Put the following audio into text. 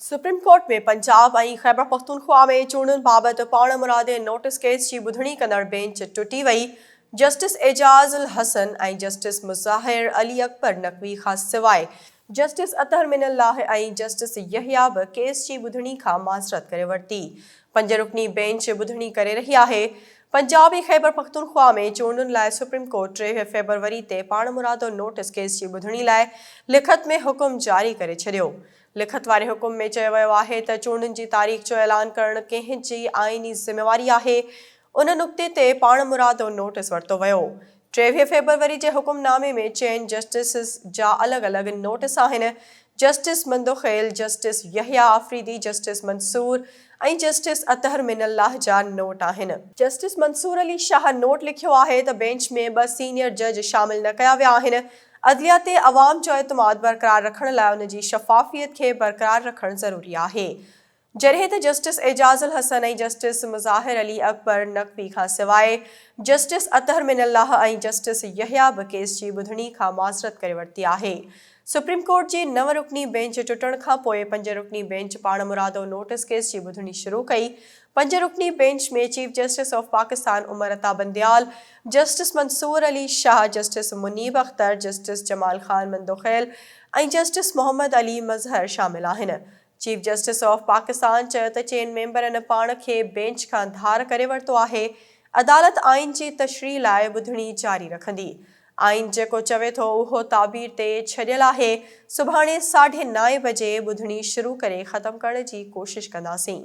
Supreme court ۾ Punjab ۽ Khyber Pakhtunkhwa ۾ چونڊن بابت پاڻمرادي نوٽيس ڪيس جي ٻڌڻي ڪندڙ بينچ ٽٽي وئي، جسٽس اعجاز الحسن ۽ جسٽس مظاهر علي اڪبر نقوي کان سواء جسٽس اطهر من الله ۽ جسٽس يحيٰ به ڪيس جي ٻڌڻي کان معذرت ڪري ورتي، پنج رڪني بينچ ٻڌڻي ڪري رهي آهي، پنجاب ۽ خيبرپختونخوا ۾ چونڊن لاء سپريم ڪورٽ ٽيهه فيبروري تي پاڻمرادو نوٽيس ڪيس جي ٻڌڻي لاء لکت ۾ حڪم جاري ڪري ڇڏيو، لکت واري حڪم ۾ چيو ويو آهي ته چونڊن جي تاريخ جو اعلان ڪرڻ ڪنهن جي آئيني ذميواري آهي، ان نقطي تي پاڻمرادو نوٽيس ورتو ويو. ٽيويهه فيبروري جي حڪم نامي ۾ چئن جسٽسز جا الڳ الڳ نوٽيس آهن، justice Mandokhail, justice Yahya Afridi, justice Mansoor ۽ justice Athar من الله جا نوٽ آهن. جسٽس منصور علي شاهه نوٽ لکيو آهي ته بينچ ۾ ٻه سينيئر جج شامل نه ڪيا ويا آهن عدليه تي عوام جو اعتماد برقرار رکڻ لاء ان جي شفافيت کي برقرار رکڻ ضروري آهي. جڏهن ته جسٽس اعجاز الحسن ۽ جسٽس مظاهر علي اڪبر نقوي کان سواء جسٽس اطهر من الله ۽ جسٽس يحيٰ به ڪيس جي ٻڌڻي کان معذرت ڪري ورتي آهي. سپريم ڪورٽ جي نو رڪني بينچ ٽٽڻ کان پوء پنج رڪني بينچ پاڻمرادو نوٽس ڪيس جي ٻڌڻي شروع ڪئي. پنج رڪني bench ۾ chief justice of Pakistan Umar Ata Bandial, justice Mansoor Ali Shah, justice Munib Akhtar, justice Jamal Khan Mandokhail ۽ justice Muhammad Ali Mazhar شامل آهن. چيف جسٽس آف پاڪستان چيو ته چئن ميمبرن پاڻ کي بينچ کان ڌار ڪري ورتو آهي، عدالت آئين جي تشريح لاء ٻڌڻي جاري رکندي، آئين جيڪو چوي ٿو اهو تعبير تي ڇڏيل آهي، سڀاڻي ساڍي نائين بجي ٻڌڻي شروع ڪري ختم ڪرڻ جي ڪوشش ڪنداسين.